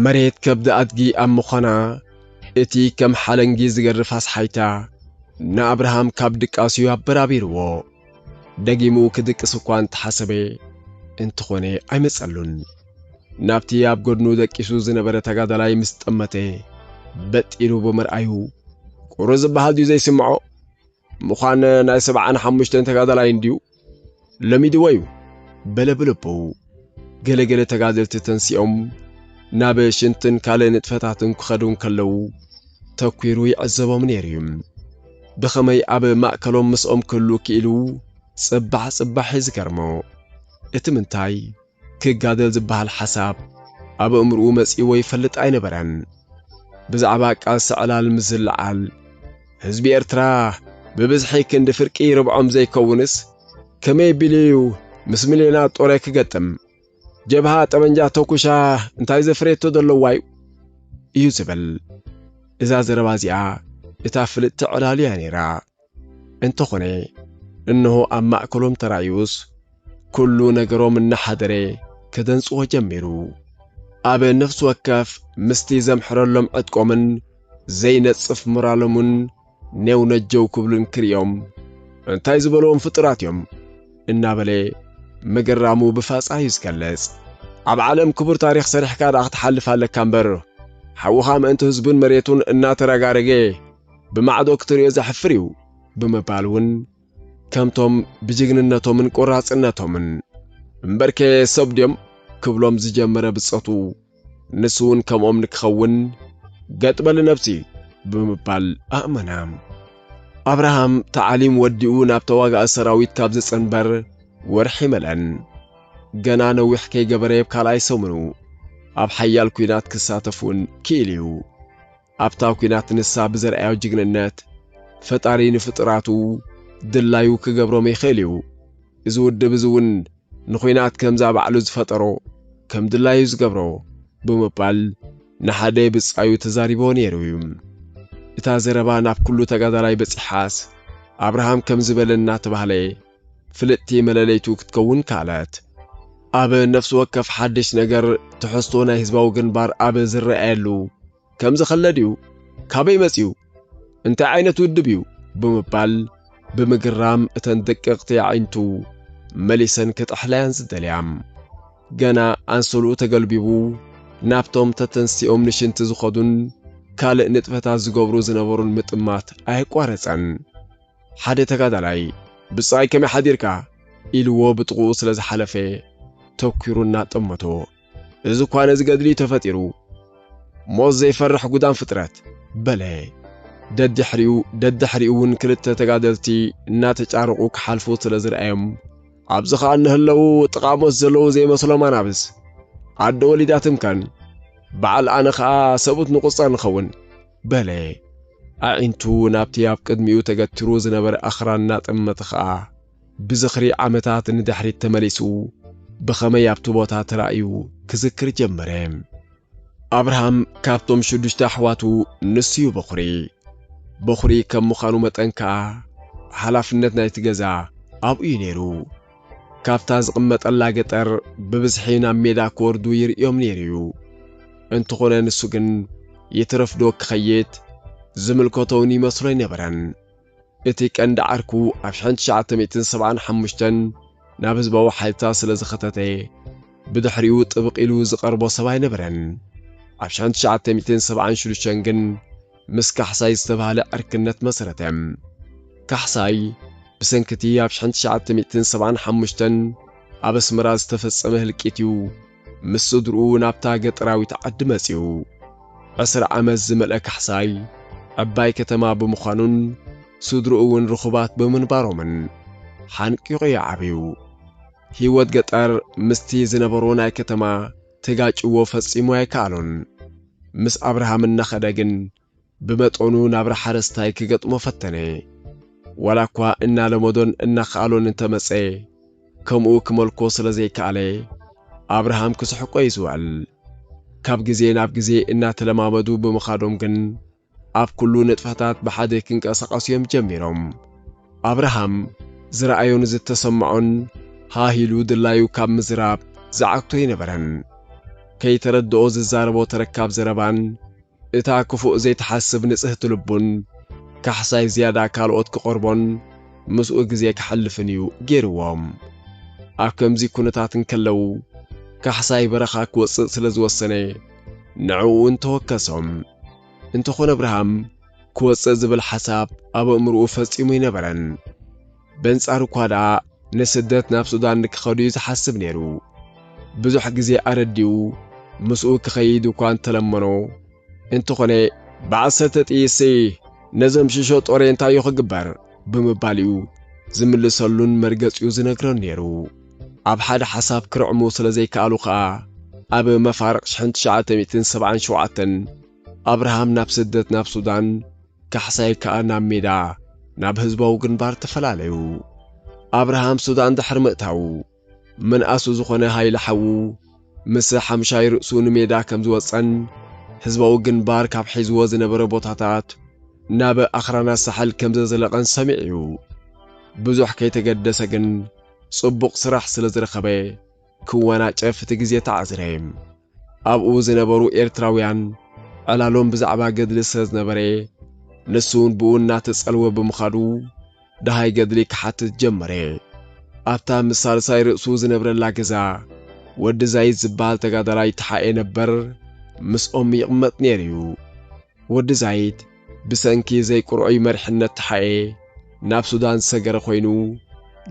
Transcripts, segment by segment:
መሬት ከብዲ ኣድጊ ኣብ ምዃና እቲ ከም ሓለንጊ ዝገርፍ ኣስሓይታ ንኣብርሃም ካብ ድቃስዩ ኣበራቢርዎ። ደጊሙ ክድቅስ እኳ እንተሓሰበ እንተኾነ ኣይመጸሉን። ናብቲ ኣብ ጎድኑ ደቂሱ ዝነበረ ተጋዳላይ ምስ ጠመተ በጥ ኢሉ ብምርኣዩ ቁሩ ዝበሃል ድዩ ዘይስምዖ? ምዃን ናይ ሰብዓን ሓሙሽተን ተጋዳላይ እንድዩ ለሚድዎ'ዩ በለ ብልቡ። ገለ ገለ ተጋደልቲ ተንሲኦም ናብ ሽንትን ካልእ ንጥፈታትን ክኸዱ እንከለዉ ተኲሩ ይዕዘቦም ነይሩ እዩ። ብኸመይ ኣብ ማእከሎም ምስኦም ክህሉ ክኢሉ ጽባሕ ጽባሕ እዩ ዝገርሞ። እቲ ምንታይ ክጋደል ዝበሃል ሓሳብ ኣብ ኣእምርኡ መጺእዎ ይፈልጥ ኣይነበረን። ብዛዕባ ቃልሲ ዕላል ምስ ዝለዓል ህዝቢ ኤርትራ ብብዝሒ ክንዲ ፍርቂ ርብዖም ዘይከውንስ ከመይ ቢሉዩ ምስ ሚልዮና ጦረ ክገጥም ጀብሃ ጠመንጃ ተኩሻ እንታይ ዘፍሬቶ ዘለዋዩ እዩ ዝብል እዛ ዘረባ እዚኣ እታ ፍልጥቲ ዕላሉ እያ ነይራ እንተኾነ እነሆ ኣብ ማእከሎም ተራእዩስ ኩሉ ነገሮም እናሓደረ ከደንጽዎ ጀሚሩ ኣብ ነፍሲ ወከፍ ምስቲ ዘምሕረሎም ዕጥቆምን ዘይነጽፍ ሞራሎምን ኔው ነጀው ክብሉ እንክርእዮም እንታይ ዝበልዎም ፍጡራት እዮም እናበለ ምግራሙ ብፋጻ እዩ ዝገለጽ። ኣብ ዓለም ክቡር ታሪኽ ሰሪሕካ ደኣ ክትሓልፍ ኣለካ እምበር ሓውኻ ምእንቲ ህዝቡን መሬቱን እናተረጋረገ ብማዕዶ ክትርእዮ ዘሕፍር እዩ ብምባል እውን ከምቶም ብጅግንነቶምን ቆራጽነቶምን እምበርከ ሰብ ድዮም ክብሎም ዝጀመረ ብጾቱ ንሱውን ከምኦም ንክኸውን ገጥ በሊ ነብሲ ብምባል ኣእመነ። ኣብርሃም ተዓሊም ወዲኡ ናብ ተዋጋኢ ሰራዊት ካብ ዝጽንበር ወርሒ መለን። ገና ነዊሕ ከይገበረ የብ ካልኣይ ሰሙኑ ኣብ ሓያል ኩናት ክሳተፍውን ክኢሉዩ። ኣብታ ኩናት ንሳ ብዘርኣዮ ጅግንነት ፈጣሪ ንፍጡራቱ ድላዩ ክገብሮም ይኽእል እዩ። እዚ ውድብ እዚ እውን ንኩናት ከምዛ ባዕሉ ዝፈጠሮ ከም ድላዩ ዝገብሮ ብምባል ንሓደ ብጻዩ ተዛሪብዎ ነይሩ እዩ። እታ ዘረባ ናብ ኩሉ ተጋዳላይ በጺሓስ ኣብርሃም ከምዚ በለ እናተባህለ፣ ፍልጥቲ መለለይቱ ክትከውን ከኣለት። ኣብ ነፍሲ ወከፍ ሓድሽ ነገር ትሕዝቶ ናይ ህዝባዊ ግንባር ኣብ ዝረኣየሉ ከምዚ ከለ ድዩ? ካበይ መጺኡ? እንታይ ዓይነት ውድብ እዩ? ብምባል ብምግራም እተን ደቀቕቲ ኣዒንቱ መሊሰን ክጥሕላያን ዝደልያ። ገና ኣንሶልኡ ተገልቢቡ ናብቶም ተተንሲኦም ንሽንቲ ዝኸዱን ካልእ ንጥፈታት ዝገብሩ ዝነበሩን ምጥማት ኣየቋረጸን። ሓደ ተጋዳላይ ብጻይ ከመይ ሓዲርካ ኢልዎ ብጥቕኡ ስለ ዝሓለፈ ተኲሩ እናጠመቶ እዚ እኳ ነዚ ገድሊ'ዩ ተፈጢሩ ሞት ዘይፈርሕ ጉዳም ፍጥረት በለ። ደድሕሪኡ ደድሕሪኡ እውን ክልተ ተጋደልቲ እናተጫረቑ ክሓልፉ ስለ ዝርኣዮም ኣብዚ ኸኣ እንህለዉ ጥቓ ሞት ዘለዉ ዘይመስሎም ኣናብስ ኣደ ወሊዳትም ከን በዓል ኣነ ኸኣ ሰብኡት ንቑጸር ንኸውን በለ። ኣዒንቱ ናብቲ ኣብ ቅድሚኡ ተገቲሩ ዝነበረ ኣኽራን እናጠመተ ኸኣ፣ ብዝኽሪ ዓመታት ንድሕሪት ተመሊሱ፣ ብኸመይ ኣብቲ ቦታ ተራእዩ ክዝክር ጀመረ። ኣብርሃም ካብቶም ሽዱሽተ ኣሕዋቱ ንሱ'ዩ በዅሪ። በዅሪ ከም ምዃኑ መጠን ከኣ፣ ሓላፍነት ናይቲ ገዛ ኣብኡ'ዩ ነይሩ። ካብታ ዝቕመጠላ ገጠር ብብዝሒ ናብ ሜዳ ክወርዱ ይርእዮም ነይሩ እዩ። እንተኾነ ንሱ ግን ይትረፍዶ ክኸይድ ዝምልከቶውን ይመስሎ ኣይነበረን። እቲ ቀንዲ ዓርኩ ኣብ ሸሕን ትሽዓተ ሚእትን ሰብዓን ሓሙሽተን ናብ ህዝባዊ ሓይልታት ስለ ዝኸተተ ብድሕሪኡ ጥብቕ ኢሉ ዝቐርቦ ሰብ ኣይነበረን። ኣብ ሸሕን ትሽዓተ ሚእትን ሰብዓን ሽዱሽተን ግን ምስ ካሕሳይ ዝተባህለ ዕርክነት መሰረተ። ካሕሳይ ብሰንኪ'ቲ ኣብ ሽሕን ትሽዓተ ሚእትን ሰብዓን ሓሙሽተን ኣብ ኣስመራ ዝተፈጸመ ህልቂት'ዩ ምስ ስድርኡ ናብታ ገጠራዊት ዓዲ መጺኡ። ዕስራ ዓመት ዝመልአ ካሕሳይ ዕባይ ከተማ ብምዃኑን ስድርኡ'ውን ርኹባት ብምንባሮምን ሓንቂቑ'ዩ ዓብዩ። ህይወት ገጠር ምስቲ ዝነበሮ ናይ ከተማ ተጋጭዎ ፈጺሙ ኣይከኣሎን። ምስ ኣብርሃም እናኸደ ግን ብመጠኑ ናብራ ሓረስታይ ክገጥሞ ፈተነ። ዋላኳ እናለመዶን እናኸኣሎን እንተመጸ፣ ከምኡ ክመልኮ ስለ ዘይከኣለ ኣብርሃም ክስሕቆ'ዩ ዝውዕል። ካብ ግዜ ናብ ግዜ እናተለማመዱ ብምኻዶም ግን ኣብ ኩሉ ንጥፈታት ብሓደ ኪንቀሳቐሱ እዮም ጀሚሮም። ኣብርሃም ዝረኣዮን ዝተሰምዖን ሃህ ኢሉ ድላዩ ካብ ምዝራብ ዝዓግቶ ኣይነበረን። ከይተረድኦ ዝዛረቦ ተረካብ ዘረባን እታ ክፉእ ዘይትሓስብ ንጽህቲ ልቡን ካሕሳይ ዝያዳ ካልኦት ክቐርቦን ምስኡ ግዜ ከሕልፍን እዩ ገይርዎ። ኣብ ከምዚ ኩነታት እንከለዉ ካሕሳይ በረኻ ክወጽእ ስለ ዝወሰነ ንዕኡ'ውን ተወከሶም። እንተኾነ ኣብርሃም ክወጽእ ዝብል ሓሳብ ኣብ ኣእምርኡ ፈጺሙ ኣይነበረን። በንጻሩ እኳ ደኣ ንስደት ናብ ሱዳን ንክኸድ'ዩ ዝሓስብ ነይሩ። ብዙሕ ግዜ ኣረዲኡ ምስኡ ክኸይድ እኳ እንተለመኖ፣ እንተኾነ፣ ብዓሰርተ ጥይት-ሲ ነዞም ሽሾ ጦሬ እንታይ'ዩ ክግበር? ብምባል እዩ ዝምልሰሉን መርገጺኡ ዝነግረን ነይሩ። ኣብ ሓደ ሓሳብ ክርዕሙ ስለ ዘይከኣሉ ከኣ ኣብ መፋርቕ ሽሕን ትሽዓተ ሚእትን ሰብዓን ሸውዓተን ኣብርሃም ናብ ስደት ናብ ሱዳን፣ ካሕሳይ ከኣ ናብ ሜዳ ናብ ህዝባዊ ግንባር ተፈላለዩ። ኣብርሃም ሱዳን ድሕሪ ምእታዉ፣ መንኣሱ ዝኾነ ሃይለ ሓዉ ምስ ሓምሻይ ርእሱ ንሜዳ ከም ዝወጸን ህዝባዊ ግንባር ካብ ሒዝዎ ዝነበረ ቦታታት ናብ ኣኽራናት ሳሕል ከም ዘዘለቐን ሰሚዑ'ዩ። ብዙሕ ከይተገደሰ ግን ጽቡቕ ስራሕ ስለ ዝረኸበ ክወናጨፍ እቲ ግዜ ተዓዝረ። ኣብኡ ዝነበሩ ኤርትራውያን ዕላሎም ብዛዕባ ገድሊ ስለ ዝነበረ፣ ንሱውን ብኡ እናተጸልወ ብምኻዱ፣ ደሃይ ገድሊ ክሓትት ጀመረ። ኣብታ ምስ ሳልሳይ ርእሱ ዝነብረላ ገዛ፣ ወዲ ዛይድ ዝበሃል ተጋዳላይ ተሓኤ ነበር ምስኦም ይቕመጥ ነይሩ'ዩ። ወዲ ዛይድ ብሰንኪ ዘይቁርዑይ መሪሕነት ተሓኤ ናብ ሱዳን ዝሰገረ ኮይኑ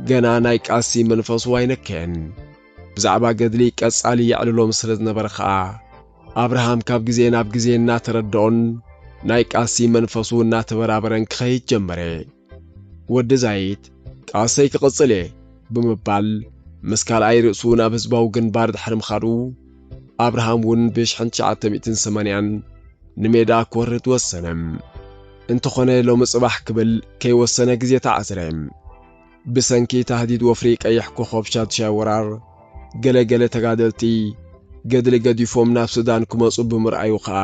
ገና ናይ ቃልሲ መንፈሱ ኣይነከየን። ብዛዕባ ገድሊ ቀጻሊ የዕልሎም ስለ ዝነበረ ከኣ ኣብርሃም ካብ ግዜ ናብ ግዜ እናተረደኦን ናይ ቃልሲ መንፈሱ እናተበራበረን ክኸይድ ጀመረ። ወዲ ዛይት ቃልሰይ ክቕጽል እየ ብምባል ምስ ካልኣይ ርእሱ ናብ ህዝባዊ ግንባር ድሕሪ ምኻዱ ኣብርሃም እውን ብ1980 ንሜዳ ክወርድ ወሰነ። እንተኾነ ሎሚ ጽባሕ ክብል ከይወሰነ ግዜ ተኣስረ። ብሰንኪ ታህዲድ ወፍሪ ቀይሕ ኮኾብ ሻዱሻይ ወራር ገለ ገለ ተጋደልቲ ገድሊ ገዲፎም ናብ ሱዳን ክመጹ ብምርኣዩ ከኣ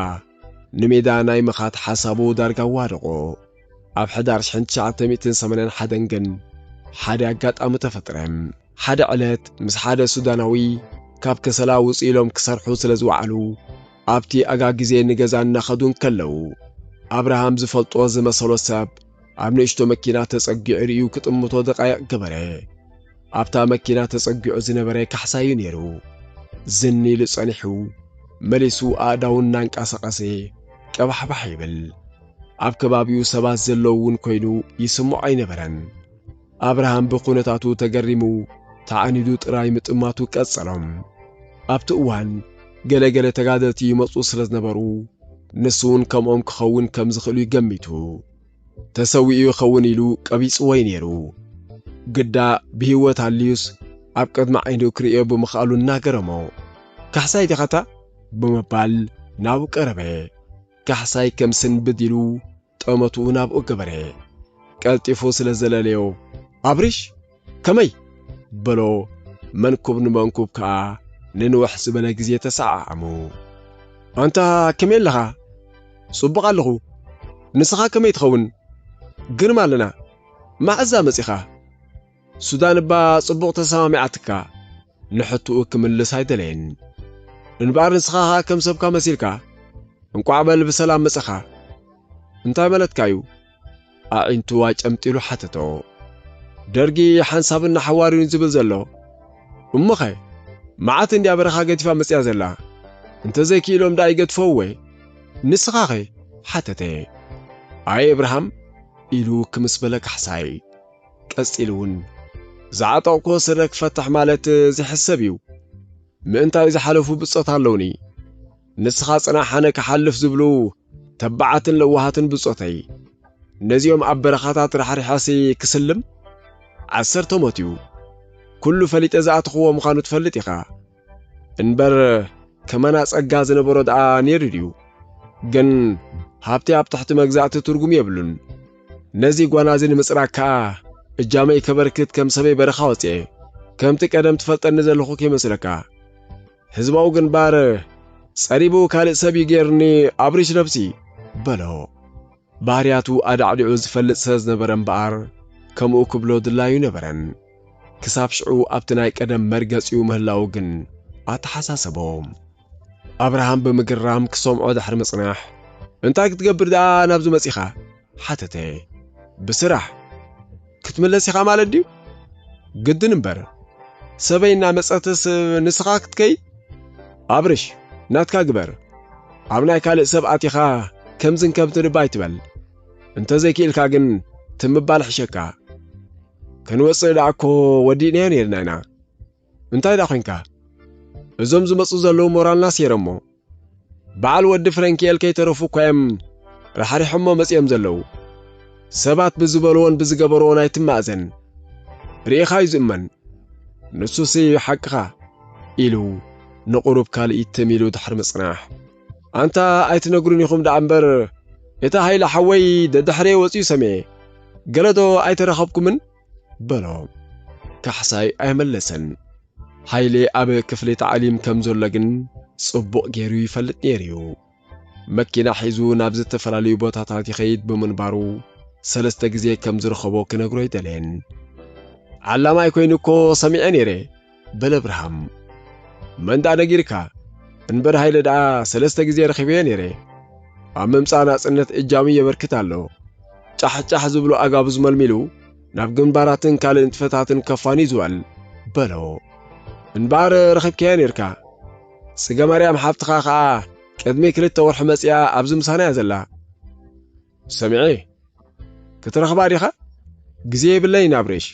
ንሜዳ ናይ ምኻድ ሓሳቡ ዳርጋ ኣዋደቖ። ኣብ ሕዳር ሽሕን ትሽዓተ ሚእትን ሰማንያን ሓደን ግን ሓደ ኣጋጣሚ ተፈጥረ። ሓደ ዕለት ምስ ሓደ ሱዳናዊ ካብ ከሰላ ውጽእ ኢሎም ክሰርሑ ስለ ዝወዓሉ ኣብቲ ኣጋ ግዜ ንገዛ እናኸዱ እንከለዉ ኣብርሃም ዝፈልጦ ዝመሰሎ ሰብ ኣብ ንእሽቶ መኪና ተጸጊዑ ርእዩ ክጥምቶ ደቓይቕ ገበረ። ኣብታ መኪና ተጸጊዑ ዝነበረ ካሕሳይ እዩ ነይሩ። ዝን ኢሉ ጸኒሑ መሊሱ ኣእዳዉ እናንቀሳቐሰ ቀባሕባሕ ይብል። ኣብ ከባቢኡ ሰባት ዘለዉ እውን ኮይኑ ይስምዖ ኣይነበረን። ኣብርሃም ብዅነታቱ ተገሪሙ ተዓኒዱ ጥራይ ምጥማቱ ቀጸሎ። ኣብቲ እዋን ገለ ገለ ተጋደልቲ ይመጹ ስለ ዝነበሩ ንሱ እውን ከምኦም ክኸውን ከም ዝኽእሉ እዩ ገሚቱ። ተሰዊኡ ይኸውን ኢሉ ቀቢጽዎ እዩ ነይሩ። ግዳ ብህይወት ኣልዩስ ኣብ ቅድሚ ዓይኑ ክርእዮ ብምኽኣሉ እናገረሞ፣ ካሕሳይ ዲኻ'ታ? ብምባል ናብኡ ቀረበ። ካሕሳይ ከም ስንብድ ኢሉ ጠመትኡ ናብኡ ገበረ። ቀልጢፉ ስለ ዘለለዮ፣ ኣብርሽ! ከመይ? በሎ፣ መንኩብ ንመንኩብ ከኣ ንንውሕ ዝበለ ግዜ ተሰዓዓሙ። ኣንታ ከመይ ኣለኻ? ጽቡቕ ኣለኹ፣ ንስኻ ከመይ ትኸውን? ግርም ኣለና፣ መዓዛ መጺኻ? ሱዳን እባ ጽቡቕ ተሰማሚዓትካ ንሕቱኡ ክምልስ ኣይደለየን እንባኣር ንስኻ ኸኣ ከም ሰብካ መሲልካ እንቋዕ በል ብሰላም መጸኻ እንታይ መለትካ እዩ ኣዒንቱ ኣጨምጢሉ ሓተቶ ደርጊ ሓንሳብን ንሓዋርዩን ዝብል ዘሎ እሞኸ መዓት እንድያ በረኻ ገዲፋ መጽያ ዘላ እንተዘይክኢሎም ደኣ ይገድፈው ወይ ንስኻኸ ሓተተ ኣይ እብርሃም ኢሉ ክምስ በለ ካሕሳይ ቀጺሉ ውን ዝዓጠቕኩዎ ስረ ክፈትሕ ማለት ዘይሕሰብ እዩ ምእንታይ ዝሓለፉ ብጾት ኣለውኒ ንስኻ ጽናሕ ኣነ ክሓልፍ ዝብሉ ተባዓትን ለዋሃትን ብጾተይ ነዚኦም ኣብ በረኻታት ራሕሪሐሲ ክስልም ዓሰርተ ሞት እዩ ኩሉ ፈሊጠ ዝኣተኽዎ ምዃኑ ትፈልጥ ኢኻ እንበር ከማና ጸጋ ዝነበሮ ደኣ ነይሩ ድዩ? ግን ሃብቲ ኣብ ትሕቲ መግዛእቲ ትርጉም የብሉን። ነዚ ጓናዚ ንምጽራግ ከኣ እጃመይ ከበርክት ከም ሰበይ በረኻ ወጽኤ። ከምቲ ቀደም ትፈልጠኒ ዘለኹ ከይመስለካ። ህዝባዊ ግንባር ጸሪቡ ካልእ ሰብ እዩ ገይሩኒ ኣብሪሽ ነብሲ በሎ። ባህርያቱ ኣዳዕዲዑ ዝፈልጥ ስለ ዝነበረ እምበኣር ከምኡ ክብሎ ድላዩ ኣይነበረን። ክሳብ ሽዑ ኣብቲ ናይ ቀደም መርገጺኡ ምህላዉ ግን ኣተሓሳሰቦ። ኣብርሃም ብምግራም ክሰምዖ ድሕሪ ምጽናሕ። እንታይ ክትገብር ደኣ ናብዚ መጺኻ? ሓተተ። ብስራሕ! ክትምለስ ኢኻ ማለት ድዩ? ግድን እምበር ሰበይ እናመጸትስ ንስኻ ክትከይድ? ኣብርሽ ናትካ ግበር፣ ኣብ ናይ ካልእ ሰብ ኣቲኻ ከምዝን ከምትን እባ ኣይትበል፣ እንተዘይክኢልካ ግን ትም ምባል ይሕሸካ። ክንወጽእ ደኣኮ ወዲእናዮ ነይርና ኢና፣ እንታይ ዳ ኮንካ እዞም ዝመጹ ዘለዉ ሞራልና ሴረሞ በዓል ወዲ ፍረንኪኤል ከይተረፉ እኳ እዮም ራሕሪሖሞ መጺኦም ዘለዉ ሰባት ብዝበልዎን ብዝገበርዎን ኣይትማእዘን ርኢኻ እዩ ዝእመን ንሱስ እዩ ሓቅኻ ኢሉ ንቑሩብ ካልኢት ትም ኢሉ ድሕሪ ምጽናሕ ኣንታ ኣይትነግሩን ኢኹም ደኣ እምበር እቲ ሃይለ ሓወይ ደድሕረየ ወጺኡ ሰምየ ገለዶ ኣይተረኸብኩምን በሎ። ካሕሳይ ኣይመለሰን። ሃይሌ ኣብ ክፍሊ ታዕሊም ከም ዘሎ ግን ጽቡቕ ገይሩ ይፈልጥ ነይሩ'ዩ። መኪና ሒዙ ናብ ዝተፈላለዩ ቦታታት ይኸይድ ብምንባሩ ሰለስተ ግዜ ከም ዝረኸቦ ክነግሮ ኣይደለየን። ዓላማይ ኮይኑ እኮ ሰሚዐ ነይረ። በለ ኣብርሃም። መን ደኣ ነጊርካ? እንበር ሃይለ ደኣ ሰለስተ ግዜ ረኺበዮ ነይረ። ኣብ ምምጻእ ናጽነት እጃሙ የበርክት ኣሎ። ጫሕ ጫሕ ዝብሉ ኣጋብዝ መልሚሉ ናብ ግንባራትን ካልእ ንጥፈታትን ከፋንዩ ዝውዕል በሎ። እንበኣር ረኺብካዮ ነይርካ። ጽገማርያም ሓብትኻ ኸኣ ቅድሚ ክልተ ወርሒ መጺኣ ኣብዚ ምሳና'ያ ዘላ። ሰሚዔ ክትረኽባ ዲኻ? ግዜ የብለይን ኣብሬሽ።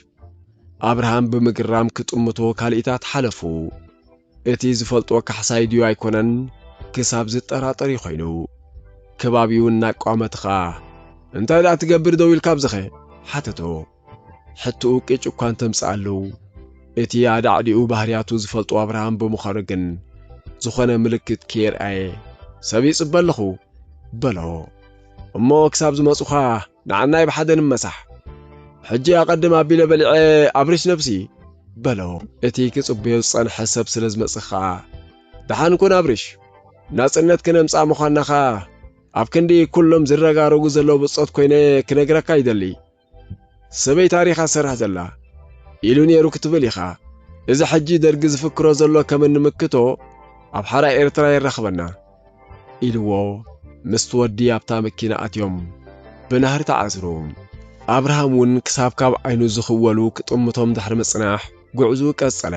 ኣብርሃም ብምግራም ክጥምቶ ካልኢታት ሓለፉ። እቲ ዝፈልጦ ካሕሳይ ድዩ ኣይኮነን ክሳብ ዝጠራጠር እዩ ኮይኑ። ከባቢኡ እናቋመተ ኸኣ እንታይ ደኣ ትገብር ደው ኢልካ ኣብዚኸ? ሓተቶ። ሕትኡ ቅጭ እኳ እንተምጽኣሉ፣ እቲ ኣዳዕዲኡ ባህርያቱ ዝፈልጦ ኣብርሃም ብምዃኑ ግን ዝኾነ ምልክት ከየርኣየ፣ ሰብ ይጽበ ኣለኹ፣ በሎ። እሞ ክሳብ ዝመጹኻ ንዓናይ ብሓደ ንመሳሕ። ሕጂ ኣቐድም ኣቢለ በሊዐ ኣብርሽ ነብሲ፣ በሎ። እቲ ክጽበዮ ዝጸንሐ ሰብ ስለ ዝመጽእ ከኣ፣ ደሓን ኩን ኣብርሽ፣ ናጽነት ክነምጽኣ ምዃንና ከኣ ኣብ ክንዲ ኩሎም ዝረጋረጉ ዘለዉ ብጾት ኮይነ ክነግረካ ይደሊ፣ ሰበይ ታሪኻ ትሰርሕ ዘላ ኢሉ ኔሩ ክትብል ኢኻ እዚ ሕጂ ደርጊ ዝፍክሮ ዘሎ ከም እንምክቶ ኣብ ሓራ ኤርትራ የራኽበና ኢልዎ ምስቲ ወዲ ኣብታ መኪና ኣትዮም ብናህሪ ተዓዝሩ ኣብርሃም ውን ክሳብ ካብ ዓይኑ ዝኽወሉ ክጥምቶም ድሕሪ ምጽናሕ ጉዕዝኡ ቀጸለ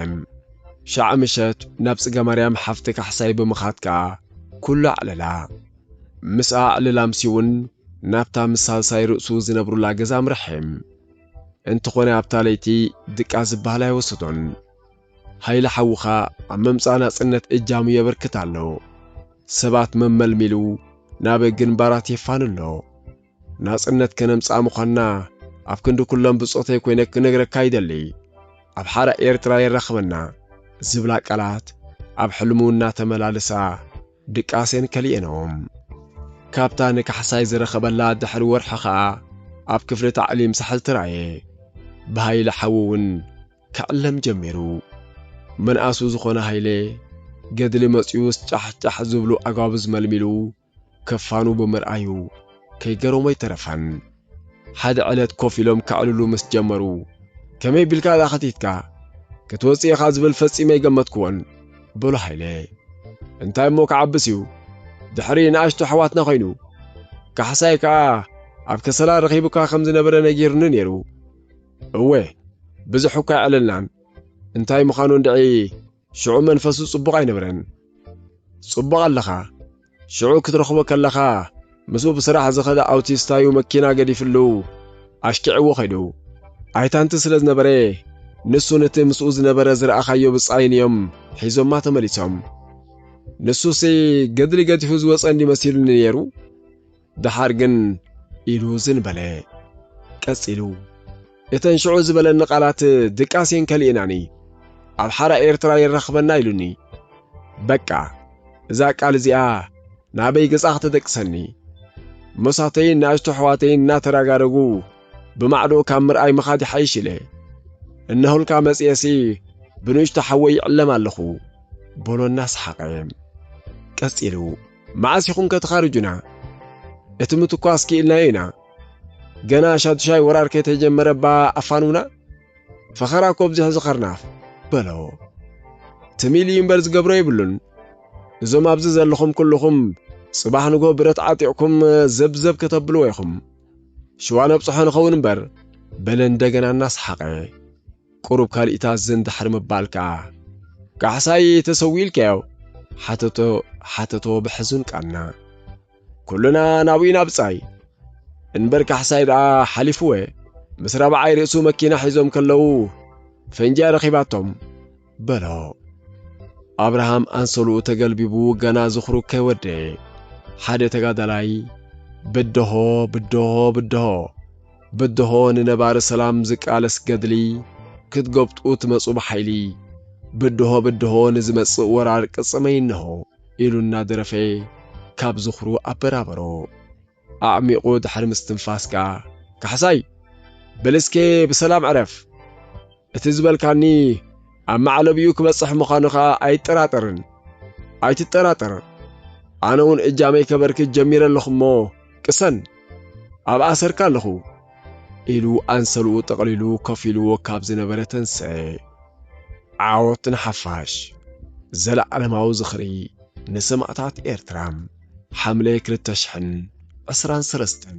ሻዕ ምሸት ናብ ጽገማርያም ሓፍቲ ካሕሳይ ብምኻድ ከኣ ኩሉ ኣዕለላ። ምስኣ ዕልል ኣምስዩ'ውን ናብታ ምስ ሳልሳይ ርእሱ ዝነብሩላ ገዛ ኣምርሐ። እንተኾነ ኣብታ ለይቲ ድቃስ ዝበሃል ኣይወሰዶን። ሃይለ ሓውኻ ኣብ ምምጻእ ናጽነት እጃሙ የበርክት ኣሎ። ሰባት መመልሚሉ ናብ ግንባራት የፋኑ ኣሎ። ናጽነት ከነምጽኣ ምዃንና ኣብ ክንዲ ኩሎም ብጾተይ ኮይነ ክነግረካ ይደሊ። ኣብ ሓራ ኤርትራ የራኽበና ዝብላ ቃላት ኣብ ሕልሙ እናተመላለሳ ድቃሴን ከሊኤንኦም። ካብታ ንካሕሳይ ዝረኸበላ ድሕሪ ወርሒ ከኣ ኣብ ክፍሊ ታዕሊም ሳሕል ተራእየ። ብሃይለ ሓዉ እውን ክዕለም ጀሚሩ። መንኣሱ ዝኾነ ሃይለ፣ ገድሊ መጺኡስ ጫሕ ጫሕ ዝብሉ ኣጓብዝ መልሚሉ ክፋኑ ብምርኣዩ ከይገረሞ ኣይተረፈን። ሓደ ዕለት ኮፍ ኢሎም ከዕልሉ ምስ ጀመሩ ከመይ ቢልካ እዛ ኸቲትካ ክትወጽእ ኢኻ ዝብል ፈጺመ ኣይገመትክዎን በሎ ሃይለ። እንታይ እሞ ክዓብስ እዩ ድሕሪ ንኣሽቱ ኣሕዋትና ኮይኑ ካሕሳይ ከኣ ኣብ ከሰላ ረኺቡካ ከም ዝነበረ ነጊሩኒ ነይሩ። እወ ብዙሕ እኳ ኣይዕለልናን እንታይ ምዃኑ እንድዒ ሽዑ መንፈሱ ጽቡቕ ኣይነበረን። ጽቡቕ ኣለኻ። ሽዑ ክትረኽቦ ከለኻ ምስኡ ብስራሕ ዝኸደ ኣውቲስታ'ዩ መኪና ገዲፍሉ ኣሽኪዕዎ ከይዱ። ኣይታንቲ ስለ ዝነበረ ንሱን እቲ ምስኡ ዝነበረ ዝረኣኻዮ ብጻይን እዮም ሒዞማ ተመሊሶም። ንሱሲ ገድሊ ገዲፉ ዝወጸ እንድዩ መሲሉኒ ነይሩ። ደሓር ግን ኢሉ ዝን በለ። ቀጺሉ እተን ሽዑ ዝበለኒ ቃላት ድቃሴን ከሊእናኒ ኣብ ሓራ ኤርትራ የራኽበና ኢሉኒ። በቃ እዛ ቃል እዚኣ ናበይ ገጻ ከተደቅሰኒ። ሞሳተይን ንኣሽቱ ኣሕዋተይን እናተራጋረጉ ብማዕዶ ካብ ምርኣይ ምኻድ ይሓይሽ ኢለ እነሆልካ መጽኤሲ ብንእሽቶ ሓወይ ይዕለም ኣለኹ በሎ እናሰሓቐ። ቀጺሉ መዓስ ኢኹምከ ትኻርጁና? እቲ ምትኳስ ክኢልናዮ ኢና። ገና ሻዱሻይ ወራር ከይተጀመረ'ባ ኣፋንዉና? ፈኸራ እኮ ኣብዚሑ ዝኸርናፍ! በሎ። ትምኢሉ እዩ እምበር ዝገብሮ የብሉን። እዞም ኣብዚ ዘለኹም ኩሉኹም ጽባሕ ንግሆ ብረት ዓጢቕኩም ዘብዘብ ከተብልዎ ኢኹም። ሽዋ ነብጽሖ ንኸውን እምበር፣ በለ እንደገና እናሰሓቐ። ቁሩብ ካልኢታት ዝን ድሕሪ ምባል ከኣ፣ ካሕሳይ ተሰዊኡ ኢልካዮ? ሓተቶ ሓተቶ ብሕዙን ቃና። ኩልና ናብኡ ኢና ብጻይ። እንበር ካሕሳይ ደኣ ሓሊፍወ፣ ምስ ራብዓይ ርእሱ መኪና ሒዞም ከለዉ ፈንጂ'ያ ረኺባቶም። በሎ። ኣብርሃም ኣንሶልኡ ተገልቢቡ ገና ዝኽሩ ከይወደየ፣ ሓደ ተጋዳላይ ብደሆ ብደሆ ብደሆ! ብድሆ ንነባሪ ሰላም ዝቃለስ ገድሊ ክትጎብጡ ትመጹ ብሓይሊ ብድሆ ብድሆ ንዝመጽእ ወራር ቅጽመይ እነሆ ኢሉ እናደረፈ ካብ ዝኽሩ ኣበራበሮ። ኣዕሚቑ ድሕሪ ምስትንፋስ ከኣ ካሕሳይ በል እስከ ብሰላም ዕረፍ! እቲ ዝበልካኒ ኣብ መዕለቢኡ ክበጽሕ ምዃኑ ኸኣ ኣይጠራጠርን። ኣይትጠራጠር። ኣነ እውን እጃመይ ከበርክት ጀሚረ ኣለኹ እሞ ቅሰን፣ ኣብ ኣሰርካ ኣለኹ። ኢሉ ኣንሰልኡ ጠቕሊሉ ኮፍ ኢልዎ ካብ ዝነበረ ተንስኤ። ዓወት ንሓፋሽ! ዘለኣለማዊ ዝኽሪ ንሰማእታት ኤርትራ! ሓምለ ክልተ ሽሕን ዕስራን ሰለስተን